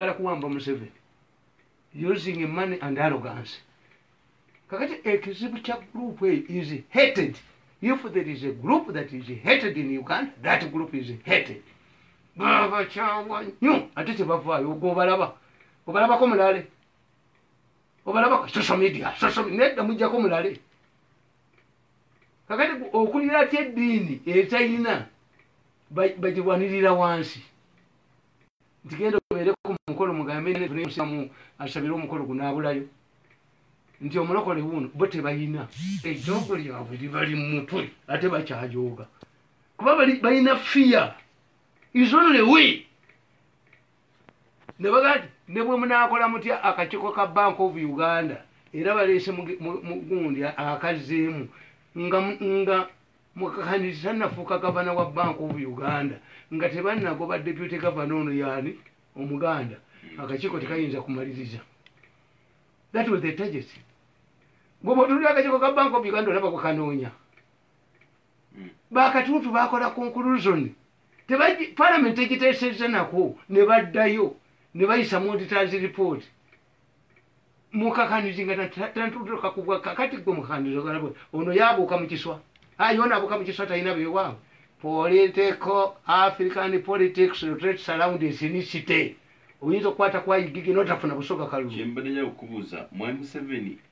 bagala kuwamba museveni using money and arrogance kakati ekizibu kya group eyo is hated if there is a group that is hated in uganda that group is hated babakyawa nyo ate kyebavaayo ogo obalaba obalabako mulale obalabako social media social media nedda mujjako mulale kakati okulira ati eddiini etayina bagirwanirira wansi nti genda obeere ku mukolo mugambenamu asabire omukolo gunaabulayo nti omulokole wuuno bo tebalina ejoogo lyabwe libali mu mutwe ate bakyajooga kuba balina fiya isonlewe ne bagaa ti ne bwe munaakola mutya akakiiko ka bank of uganda era baleese mugundi akazzeemu nga Mukakaniza nafuuka gavana wa bank of Uganda nga tebanagoba deputy gavana ono yani omuganda akakiiko tekayinza kumaliriza that was the target gwe bwotulira akakiiko ka bank of Uganda olaba kukanoonya hmm. bakatuutu bakola conclusion parliament egiteesezza nako ne baddayo ne bayisa muditazi report mukakanyuzi nga tantutuka kubwa kakati gwe mukakanyuzi ogala bwe ono yabuuka mu kiswa ayi ono abuuka mu kiswa talina beewaawo political african politics rotate surround esinisite oyinza okukwata kwayigigi notafuna busoga kalulu kyembadde nja kukubuuza mwami museveni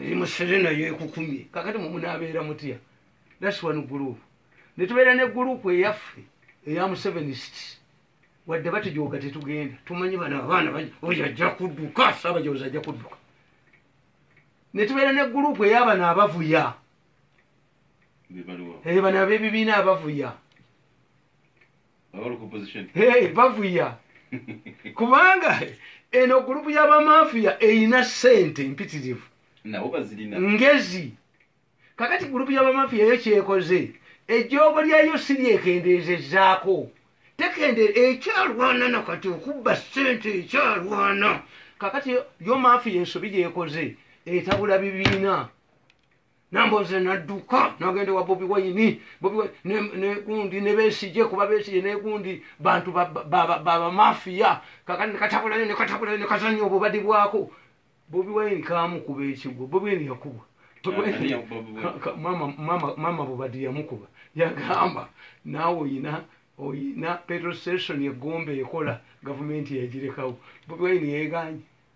eri musere nayo ekukumye kakati mumunabeera mutya thats one group netubeera ne group eyaffe eya musevenists wadde batujooga tetugenda tumanyi bano abaana oyo ajja kudduka sabajozi ajja kudduka netubeera ne group eyabano abavuya ebano abebibiina abavuya Baba bali ku opposition. Hey, bavuya kubanga eno gurupu y'abamafiya erina ssente mpitirivu Nabo bazirina. ngezi kakati gurupu y'abamafiya yo kyekoze ejjoogo lyayo si lyekendeezezaako tekende ekyalwana na kati okubba ssente ekyalwana kakati yo- yo mafiya ensobi gyekoze etabula bibiina namboze nadduka nagenda wa bobi waini negundi nebesije kuba besije negundi bantu babamafiya kakati nekatabulayo nekatabulayo nekazanya obubadi bwako bobi waini kamukuba ekigwo bobi waini yakubwa mama bubadi yamukuba yagamba nawe oyina oyina petrol station egomba ekola gavumenti yagirekawo bobi waini yeganye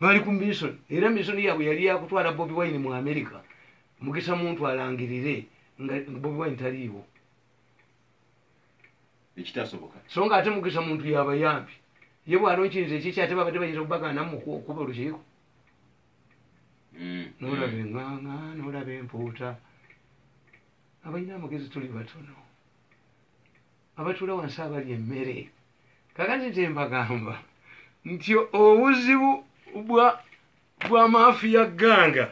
bali ku misoni era misoni yaabwe yali yakutwala bobi wine mu amerika mugisa muntu alangirire nga bobi wine taliiwo ekitasoboka so nga ate mugisa muntu yabayambi ye bwalonkiriza ekiki ate babadde bayinza okubagandamu okuba olukiiko mm. nolaba mm. enganga nolaba empuuta abalina amagezi tuli batono abatula wansi abali emmere kakati nze mbagamba nti obuzibu bwa bwa maafiya ganga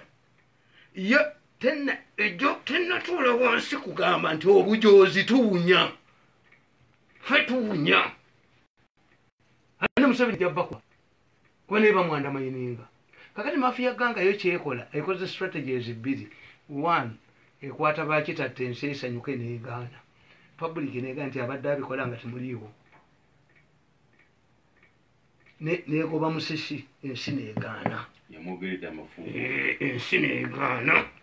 ye tena ejo tenatuula wansi kugamba nti obujoozi tuwunya fe tuwunya ate museveni jabakwa kuba naye bamwanda mayininga kakati mafiya ganga yo kyekola ekoze strategies bbiri one ekwata bakitatta ensi esanyuke negaana public nega nti abadde abikola nga temuliiwo negoba musisi ensi negaana eh, ensi negaana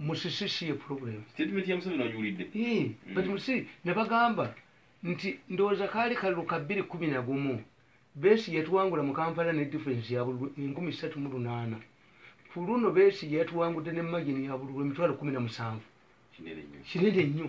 musisi siye problem statement ya museveni ogiwulidde mm. but musi ne bagamba nti ndowooza kaali kalulu ka bbiri kumi na gumu beesi yatuwangula mu kampala ne difference ya bululu enkumi ssatu mu lunaana ku luno beesi yatuwangudde ne magini ya bululu emitwalo kumi na musanvu kinene nnyo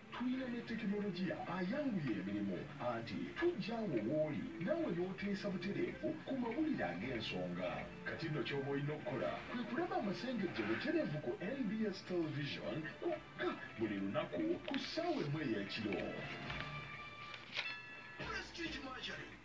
Tulina ne tekinologiya ayanguya emirimu anti tujja awo wooli naawe n'oteesa butereevu ku mawulire ag'ensonga. Kati nno ky'oba olina okukola kwe kulaba amasengejje butereevu ku nbs Television kwokka buli lunaku ku ssaawa emu ey'ekiro. Prestige Mercury.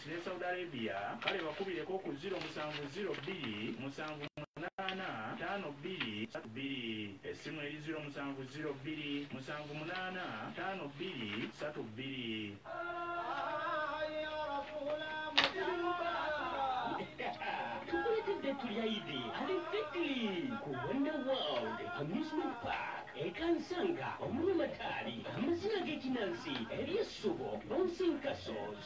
ne Saudi Arabia kale bakubireko ku ziro musanvu ziro bbiri musanvu munaana taano bbiri satu bbiri essimu eri ziro musanvu ziro bbiri musanvu munaana taano bbiri satu bbiri. tukuletedde ettu lya idi ali fitri ku wonder world amusement park ekansanga omuli amataali amazina g'ekinansi ery'essubo bouncing castles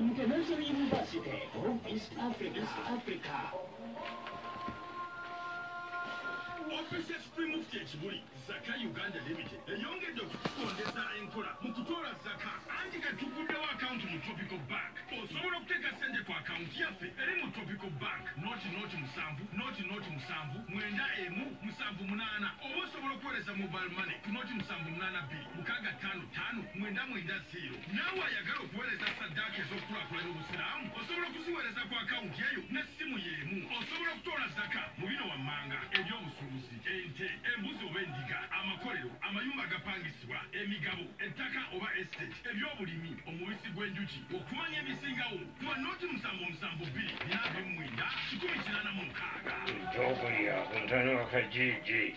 International University of East Africa, East Africa. Office ya Supreme Mufti ekibuli Zaka Uganda Limited eyongedde okukondeza enkola mu kutoola zaka anti katuguddewo akawunti mu Tropical Bank. Osobola okuteeka ssente ku akawunti yaffe eri mu Tropical Bank noti noti musanvu noti noti musanvu mwenda emu musanvu munaana oba osobola okuweereza mobile money ku noti musanvu munaana bbiri. mukaaga ttaano ttaano mwenda mwenda zeero. Naawe ayagala okuweereza saddaaka ez'okukulaakulanya Obusiraamu osobola okuziweereza ku akawunti eyo n'essimu y'emu. Osobola okutoola zaka mu bino wammanga, eby'obusuubuzi, ente, embuzi oba endiga, amakolero, amayumba agapangisibwa, emigabo, ettaka oba estate, eby'obulimi, omubisi gw'enjuki. Okumanya ebisingawo, kuba nooti musanvu omusanvu bbiri bina abiri mu mwenda kikumi kinaana mu mukaaga. Eby'okulya ku ntana wa Kajiiji.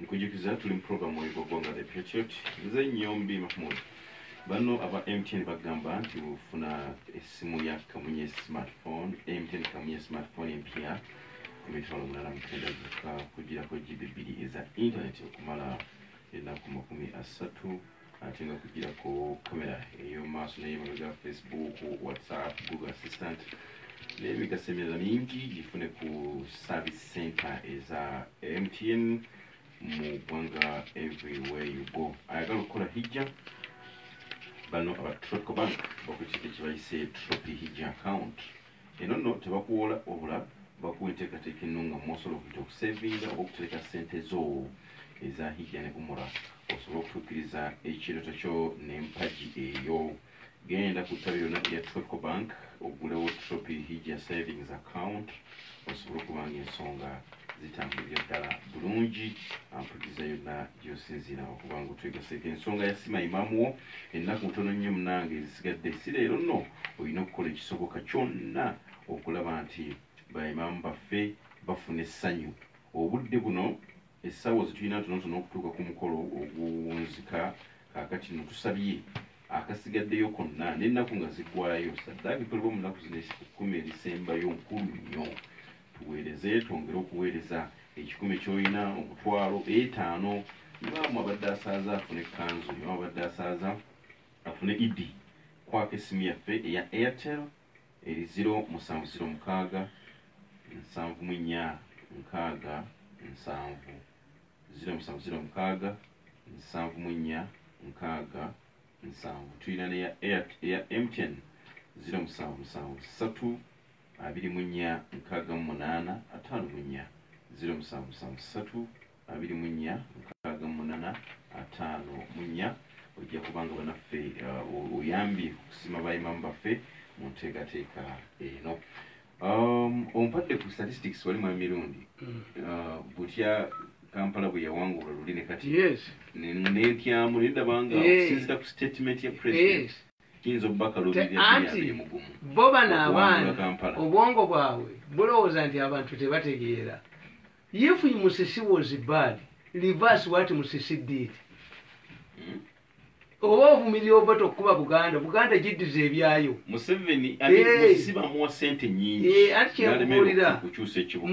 Nkujukiza tuli mu program oyo gwogwanga the patriot nze nyombi mahmud bano aba mtn bagamba nti bufuna esimu ya kamunye smartphone mtn kamunye smartphone empya emitwalo munana mutenda zuka kujirako gb bbiri eza internet okumala enaku makumi asatu ate nga kugirako kamera ey'omu maaso n'ey'emabega facebook whatsapp google assistant n'emigaso emirala mingi gifune ku service center eza mtn mu ggwanga everywhere you go ayagala okukola hijja bano aba tropical bank bakukiga kye bayise tropi hijja account Eno nno tebakuwoola wabula bakuwa enteekateeka ennungamu mwosobola okuyita okuseevinga oba okutereka ssente zo eza Hijja ne Umura osobole okutuukiriza ekirooto kyo n'empagi eyo. Genda ku ttabi lyonna erya Tropical Bank oggulewo Tropi Hijja Savings Account osobole okuba ng'ensonga zitambulira ddala bulungi ampuliriza yonna gyosinziira okuba nga otwegaseko ensonga yasima imaamu wo ennaku ntono nnyo munange ezisigadde si leero nno olina okukola ekisoboka kyonna okulaba nti baimaamu baffe bafuna essanyu obudde buno essaawa zetulina ntonotono okutuuka ku mukolo oguwunzika kakati no tusabye akasigaddeyo konna n'ennaku nga ziggwayo saddaaka ekolebwa mu nnaku zino ekkumi erisembayo nkulu nnyo Tuweereze, twongere okuweereza. Ekikumi ky'olina, omutwalo, etaano. Imaamu abadde asaaza afune ekkanzu. Imaamu abadde asaaza afune Iddi. Kwako essimu yaffe eya Airtel eri ziro musanvu ziro mukaaga nsanvu mu nnya nkaaga nsanvu ziro musanvu ziro mukaaga nsanvu mu nnya nkaaga nsanvu. Tulina n'eya Air- eya MTN ziro musanvu musanvu ssatu abiri mu nnya nkaaga mu munaana ataano mu nnya ziro musanvu musanvu ssatu abiri mu nnya nkaaga mu munaana ataano mu nnya ojja kubanga banaffe uh, oyambye okusima baimamu baffe mu nteekateeka eno um, ompadde ku statistics wali mwami mirundi mm. uh, butya kampala bwe yawangula luli ne kati nentyamu nendabanga okusinzira ku statement ya president Kiyinza okuba Kaluubirira Anti bo bano abaana obwongo bwabwe bulowooza nti abantu tebategeera. If Musisi was bad, reverse what Musisi did. Hmm? oba ovumirira ova tokukuba buganda buganda giddiza ebyayo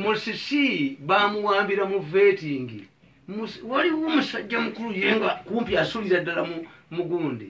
musisi bamuwambira mu vetingi waliwo omusajja mukulu yenga kumpi asulira ddala mugundi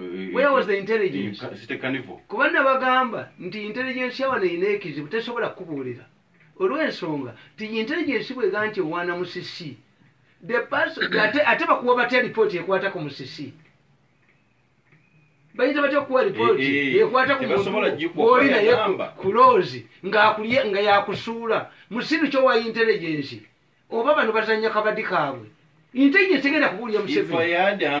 Eh, Where was the intelligence? eh, Site Carnival. kuba nabagamba nti intelligence yawano erina ekizibu tesobola kukubuulira olw'ensonga nti intelligence bwega nti owaana musisi The person- ate ate bakuwa batya lipooti ekwata ku musisi bayinza batya okukuwa lipooti Eh, eh, ekwata ku tebasobola muntu gikuwa gw'oli naye yagamba. ku- ku loozi ng'akulye nga yakusuula musiru kyowa intelligence oba bano bazanya kabadi kaabwe intelligence egenda kubuulira If I museveni had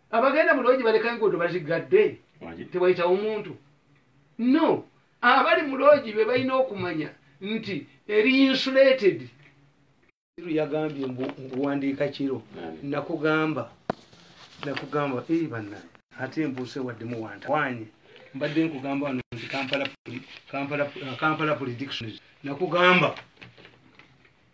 abagenda mu loogi baleka enguudo baziggadde tewayitawo omuntu no abali mu loogi be balina okumanya nti eri insulated yagambye mbuwandiika kiro nakugamba nakugamba eri banna ate mbuuse wadde muwantawanye mbadde nkugamba wano nti kampala uh, prediction nakugamba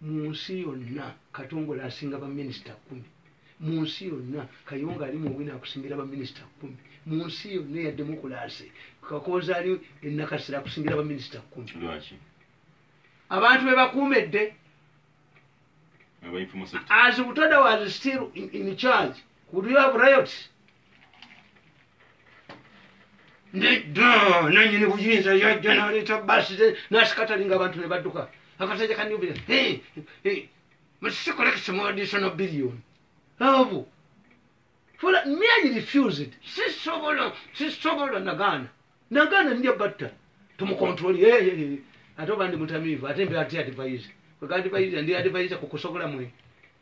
Mu nsi yonna Katongole asinga ba minisita kkumi. Mu nsi yonna Kayongo ali mu bwino akusingira ba minisita kkumi. Mu nsi yonna eya demokulaase Kakooza ali e Nakasero akusingira ba minisita kkumi. Lwaki? Abantu be bakuumedde. As Butoda was still in, in charge, would you have riots? nedda nanyini buyinza yajja naleeta basi ze nasikatalinga abantu ne badduka akasaja kanubira msikolekisimuadisono billion abo fula miayi refused sisobola sisobola nagaana nagaana nja batta tumukontroli ate oba ndi mutamiivu ate mbe ati advise kwega advise ndi advise ku kusobola mwe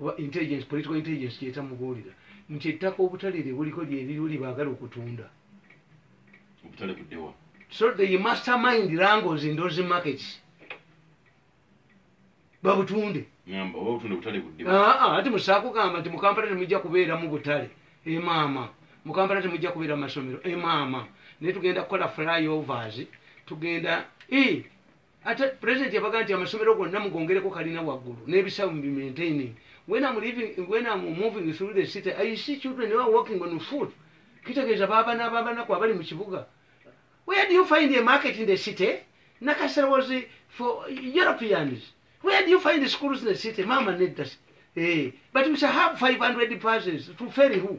oba intelligence political intelligence kyeta mubuulira nti ettaka obutale lye buliko lye liriwo lye baagala okutunda obutale buddewa so they mastermind rangles in those markets babutunde ngamba oba obutunde butale buddewa aa ah, ah, ati musaako gamba nti mukampala temujja kubeeramu butale emaama eh, mukampala temujja kubeera masomero emaama eh, naye tugenda kukola flyovers tugenda e ate president yabaga nti amasomero gonna mugongereko kalina waggulu n'ebisawo mu bimaintaining when am living when am moving through the city i see children are walking on foot kitegeeza baabana ababanaku abali mu kibuga where do you find a market in the city nakasera was for europeans where do you find the schools in the city mama nedda eh but we shall have 500 persons to ferry who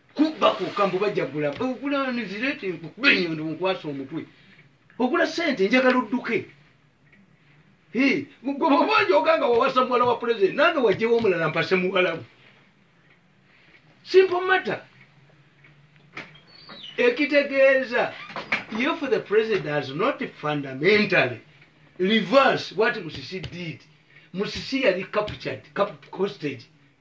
kubba kwokka mbu bajagula ogula nizirete nkukube enyondo nkwasa omutwe ogula sente njagala odduke gwebabanjoga nga wawasa muwala wa pulezidenti nange wajewo omulala mpase muwalawo simple matter ekitegeeza if the president has not fundamentally reverse what musisi did musisi yali captured captured hostage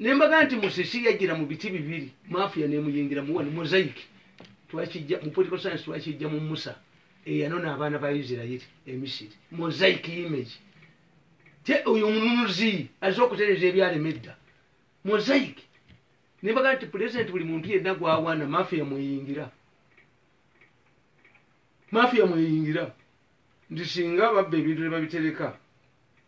nembaga nti musisi yajjira mu biti bibiri mafia nemuyingira muwani mosaic twakijja mu political science twakijja mu musa eyanona abaana ba isirairi emisiri mosaic image te oyo omununuzi aze okutereza ebyalema edda mosaic nembaga nti pulezidenti buli muntu yenna gwawaana mafia mweyingira mafia mweyingira nti singa babba ebintu nebabitereka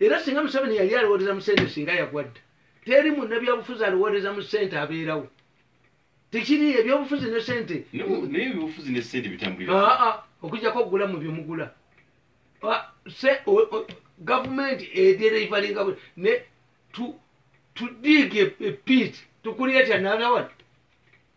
era singa museveni yali alowooleza mu sente singa yagwa dda teri munnabyabufuzi alowooleza mu sente abeerawo tekiri ebyobufuzi ne sente naye ebyobufuzi ne sente bitambulira aa ah, ah, okujjako okugula mu bye mugula ah, gavumenti edereivalinga ne tudiiga epiit tukulira kyanalawat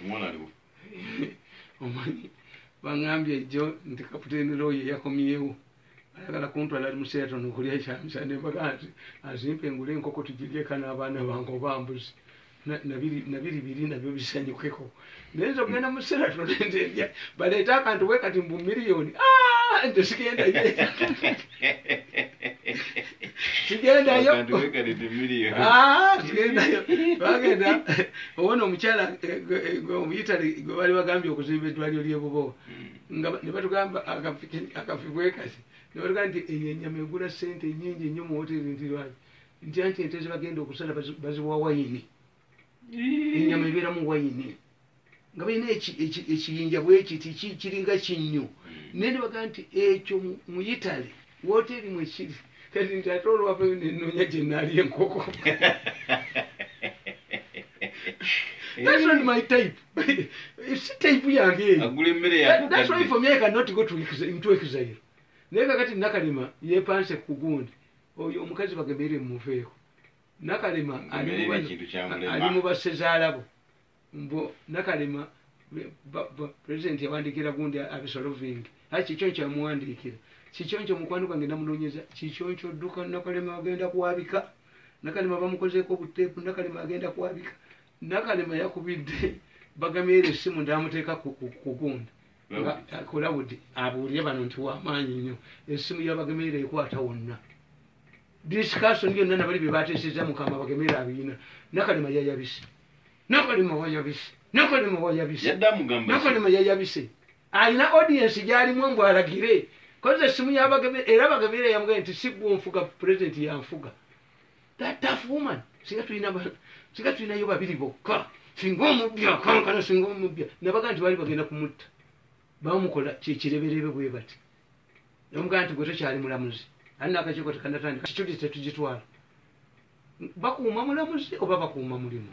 omwana aliwo omanyi bangambye ejjo nti kaputeni loyo yakomyewo ayagala kuntwala ali museeton okulya ekyamisa nembaga nti azimpa engule enkoko tugiryeka n'abaana bange oba mbuzi nabiri biri nabyo bisanyukeko naye nze okugenda museeton nze baleeta akantu bwe kati mbu miliyoni ah, nze sigendaye tugendayo Abantu beekalidde million. Ah, tugendayo bagenda owona omukyala eh, gwe- eh, gwe omuyitale gwe bali bagambye okuzimba eddwaliro lyebubowa Mm. nga ne batugamba akafi- akafi bwekasi ne batugamba nti eyo enyama egula sente nyingi nnyo mu woteri nti lwaki nti anti ente zebagenda okusala bazi- baziwa wayini enyama ebeeramu wayini nga balina ekiyinja bwekiti kiringa kinnyo hmm. naye nebagaa nti ekyo mu itale woteeri mwekiri kati nti ate olwavayo nenoonya gyenali enkoko That's not my type. It's a type ya nge. Agule mmere ya kugadde. That's why for me I cannot go to into exile. Naye kakati nakalima yepanse kugundi. Oyo omukazi bagemere mumuveeko. nakalema ali mu bassezaalabo mbu nakalema pulezidenti yawandiikira gundi abisoloving ai kikyonco yamuwandiikira kikyonco mukwano gwange namunonyeza kikyonco dduka nakalema agenda kwabika nakalema bamukozeeko obuteepu nakalema agenda kwabika nakalema yakubidde bagamyera essimu ndamuteeka kugunda kulawudi abuulire bano nti wamaanyi nnyo essimu yabagamyera ekwata wonna discussion yonna nabali bebateseza mukama bagemere abiina nakalema yayabise nakalema wayabise nakalema wayabise nakalema yayabise alina audience gyalimu mbu alagire koze esimu yabagemere era bagemere yamga nti sigwonfuga president yanfuga that tough woman singa tulina singa tulinayo babiri bokka singa omubbi akankana singa omubbi nabaga nti bali bagenda kumutta bamukola kyekireberebe bwe bati nomugamba nti gwe tokyali mulamuzi ali nakakiiko tekanatandika situdi tetugitwala bakuuma mulamuzi oba bakuuma mulimu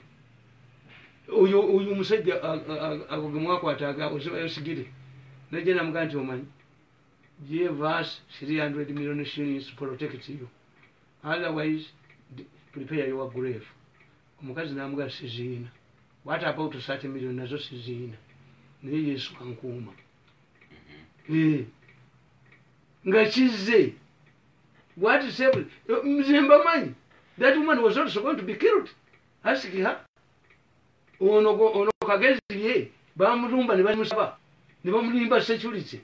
oyo oyo omusajja ago gemwakwata aga ozibayosigire najja namugamba nti omanyi give us 300 million shillings protect you otherwise prepare your grave omukazi namugamba siziina what about 30 million nazo siziina naye yesu ankuuma Eh. nga kizze what is happening mzee mbamanyi that woman was also going to be killed ask her ono ono kagezi ye bamulumba ne bamusaba ne bamulimba security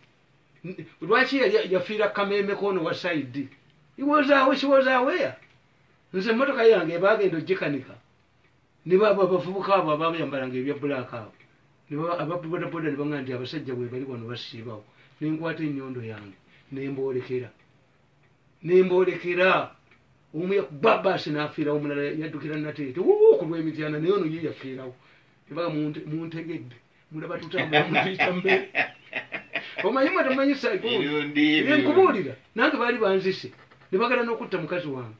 lwaki yafiira kameme kono wa side he was away she was aware nze motoka yange bagenda ojikanika ne baabo abavubuka abo abaayambalanga ebya bulaaka abo ababodaboda ne baŋa nti abasajja webali wano basiibawo ne nkwata ennyondo yange ne mboolekera ne mboolekera omu yakubabaasi n'afiirawo omulala yaddukira nateete wuu ku lw'emityana naye ono ye yafiirawo ebaga muntegedde mulaba tutambulamukiita mmere omanyi mwe tamanyi saikubuulira nange baali banzise ne bagala n'okutta mukazi wange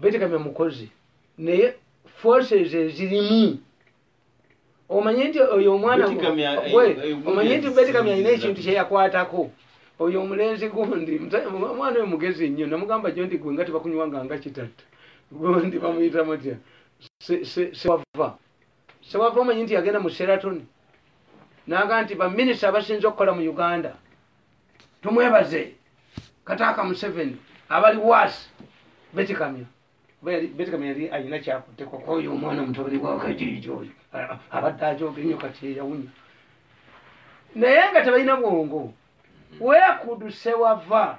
betegamya mukozi naye forces ezirimu omanye nti oyo omwana omanye nti betegamya alina ekintu kyeyakwatako oyo omulenzi gundi omwana oyo mugezi nnyo namugamba jo nti gwe nga tebakunywanga nga kitatta gundi bamuyita mutya sewava sewava omanyi nti yagenda mu seratoni naga nti baminisita abasinza okukola mu uganda tumwebaze kataaka museveni abali waasi betikamya betikamya yali alina kyakutteko kwoyo omwana omutabani wakajiiji oyo abadde ajooga ennyo kati eyawunya naye nga tebalina bwongo wekudu sewava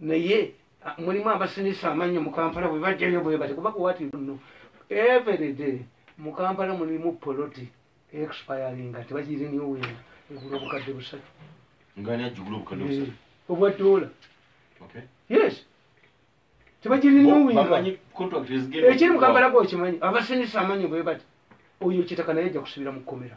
naye ah, mulimu abasinisa amannyo mu kampala bwe bajjayo bwe bati kuba kuwati nno everyday mu kampala mulimu poloti expiringa tebagiriniwinga egula obukadde busatu eh, obwa dola yes tebagiriniwinga ekiri mu kampala gwokimanyi abasinisa amannyo bwe bati oyo kitaka naye ajja kusibira mu kkomera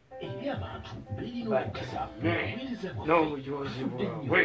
n'obujoozi bwabwe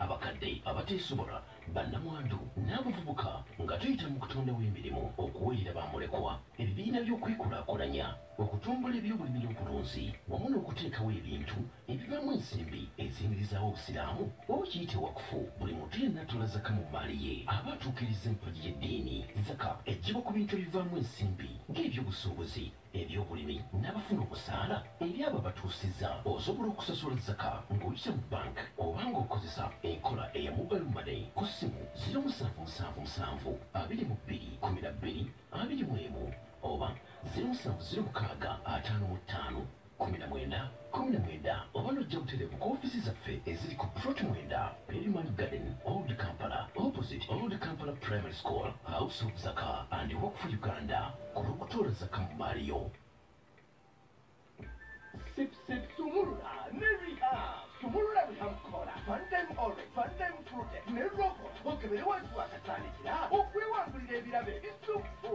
abakadde abateesobola bannamwandu n'abavubuka nga tuyita mu kutondawo emirimu okuweerera ba mulekwa ebibiina by'okwekulaakulanya okutumbula ebyobulimi n'obulunzi wamu n'okuteekawo ebintu ebivaamu ensimbi eziyimirizaawo obusiraamu oba kiyite wakufu buli muntu yenna atoola zaka mu mmaali ye aba atuukiriza empagi y'eddiini zaka eggyibwa ku bintu ebivaamu ensimbi ng'ebyobusuubuzi ebyobulimi n'abafuna obusaala eri abo abatuusiza osobola okusasula zaka ng'oyita mu bank oba ng'okozesa enkola eya mobile money ku ssimu ziro musanvu musanvu musanvu abiri mu bbiri kumi na bbiri abiri mu emu oba ziro musanvu ziro mukaaga ataano mu ttaano kumi na mwenda Kkumi na mwenda oba n'ojja butereevu ku ofiisi zaffe eziri ku Plot mwenda, Perimani Garden, Old Kampala, opposite Old Kampala Primary School, House of Zaka and Work for Uganda, ku lw'okutoola Zaka mu mmaali yo. Sip Sip Sumulula ne Rehab. Sumulula Rehab Kola, One Time Orange, One Time Fruit ne Robo okebere wansi w'akatandikira okwewangulira ebirabo ebisukku.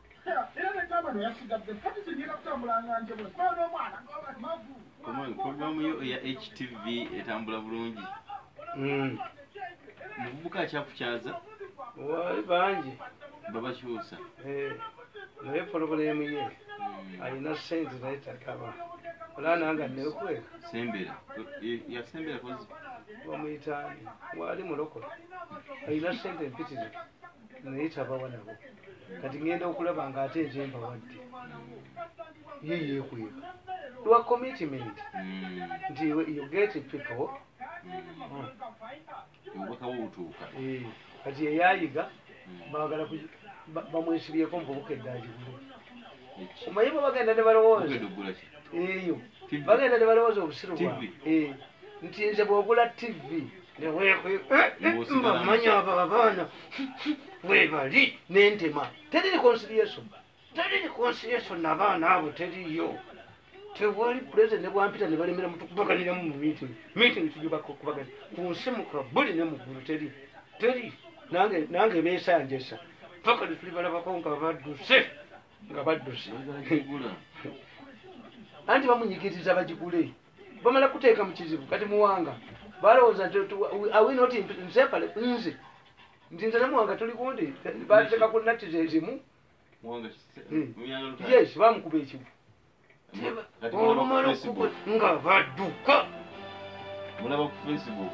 Program yo eya HTV etambula bulungi. Mm. Mubuka akyakukyaza. Wali bangi. Babakyusa. Eh. Naye program ye. Mm. Alina sente naye takaba. Olana nga nekwe. Sembera. Ya sembera kozi. Bamuyitani. Wali mulokole. Alina sente mpitirivu. naye tabawa nabo kati ŋenda okulaba nga ate nze mbawadde ye yekweka lwa commitment hmm. nti you get people hmm. eh, kati eyayiga hmm. bagala bamwesibyeko mububuka eddagigulu omanyi bwe bagenda ne balowooza eyo bagenda ne balowooza obusiru bwa eh, nti nze bwogula tivi mbamanya abo abaana webali nentema teri reconciliation teri reconciliation nabaana abo teriyo tewali president nebwampita nebalemera mutukubaganiramu mu meeting meeting tujubakubagana ku nsi mukabuli ne muggulu teri teri nange nange besanjesa paka tuli balabako nga badduse nga badduse anti bamunyigiriza bagigule bamala kuteeka mu kizibu kati muwanga balowooza nti awinoti nsepale nze nti nze namuwanga tuli kundi bateeka ku natti zezimu hmm. yes bamukuba ekibu olumala okuba nga baduka mulaba ku facebook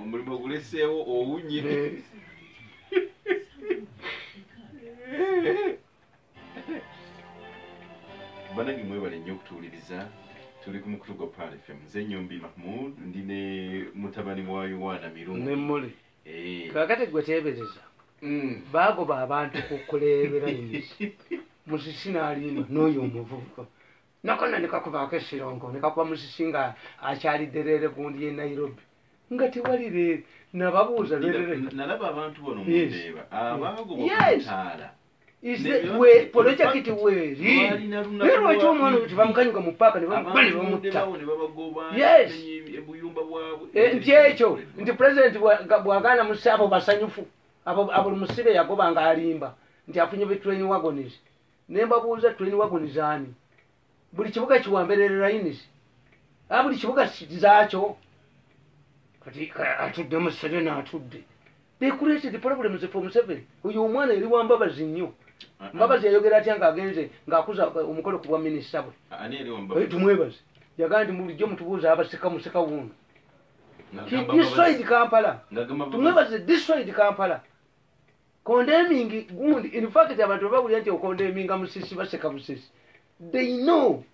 omulimu oguleseewo owunye banange mwebale nnyo okutuwuliriza tuli ku mukutu gwa pal fm nze nyombi mahmud ndi ne mutabani wa yowaana mirungi eh. kakati gwe teebereza mm. baagoba abantu kukuleebera musisi n'alimba n'oyo omuvubuka nakona nekakubaako esirongo nekakuba musisi nga akyali derere gundi ye nairobi nga tewali leero nababuuza nalaba abantu bano mundeba abaago bamutaala polojekiti weeri naye lwaki omwana oyo tebamukanyuka mu paaka nebamukuba nebamutta yes eh, nti ekyo nti pulezidenti bwagaana musi abo basanyufu abo buli musibe yagoba nga alimba nti afunye betweniwagonisi nembabuuza train wagon zaani buli kibuga kiwamberere lines a buli kibuga zaakyo kati atudde museveni atudde they created problems for museveni oyo omwana yali wambabazi nnyo ah, ah. mbabazi yayogera atya ngaagenze ngaakuza eh, omukolo ku bwa minisita bwe ah, tumwebaze yagaa nti mulijjo mutubuuza abaseka museka wuuno destroyed kampala tumwebaze destroyed kampala condemning gundi in fact abantu babawulira nti okondeminga musisi baseka busesi they know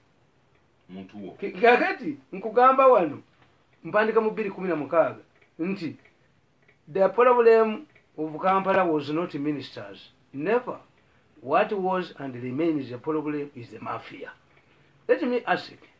kakati nkugamba wano mpandika mu bbiri kumi na mukaaga nti the problem of kampala was not ministers never what was and remains a problem is the mafia let me ask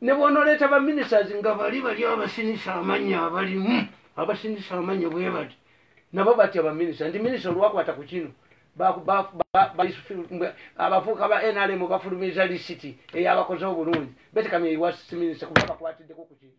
ne bwonoleeta baminisiters nga bali bali abasinisa amanya abalimu abasinisa amanya bwe bati nabo batya baminisita nti minisita olwakwata ku kino abafuuka ba nrm bafulumiza lisiti eyabakoze obulungi betekamya iwasiminisita kuba bakwatiddeko ku kintu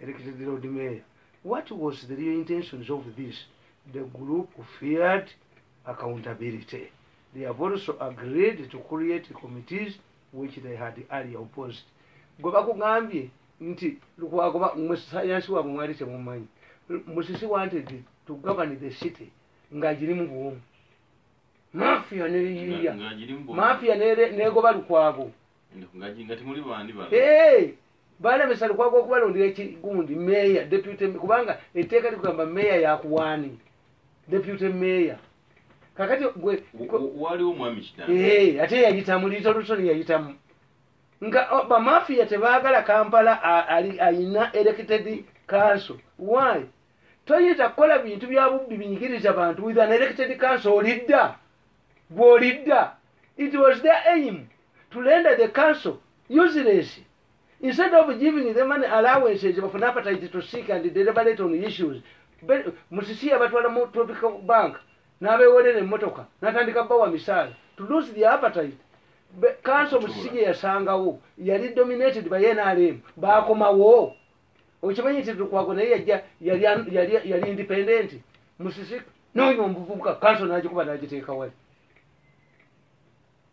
elected Lord Mayor. What was the real intentions of this? The group feared accountability. They have also agreed to create committees which they had earlier opposed. Gwe bakugambye nti Lukwago ba mwe sayansi wabwe mwali temumanyi. Musisi wanted to govern the city nga giri mu buwomu. Mafia ne yiya. Mafia ne negoba Lukwago. Nga temuli bandi bala. Hey! baalemesa lukwago okubalondera ekigundi meeya deputy kubanga etteeka likugamba meeya yakuwaani deputy meeya kakati gwe waliwo mwami kitanda ee eh, ate yayitamu liito lusoni yayitamu nga oh, bamafiya tebaagala kampala ayina elected council why toyinza kukola bintu bya bubbi binyigiriza bantu with an elected council olidda gwolidda it was their aim to render the council useless instead of giving the money allowances bafune appetite to seek and deliberate on issues musisi yabatwala mu tropical bank n'abewolera emmotoka n'atandika bawa misaala to lose the appetite kanso musisi gye yasangawo yali dominated by nrm baakomawo okimanyi nti lukwago naye yajja yali independenti musisi nonya omuvubuka kanso nagikuba nagiteeka wali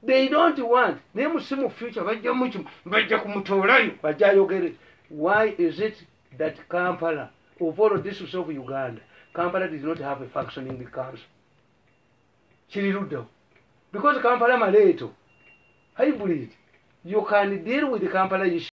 they don't want naye musimu future bajja mukimu bajja kumutoolayo bajja ayogere why is it that kampala of all districts of uganda kampala did not have a functioning council kiri luddawo because kampala maleeto hybrid you can deal with kampala issue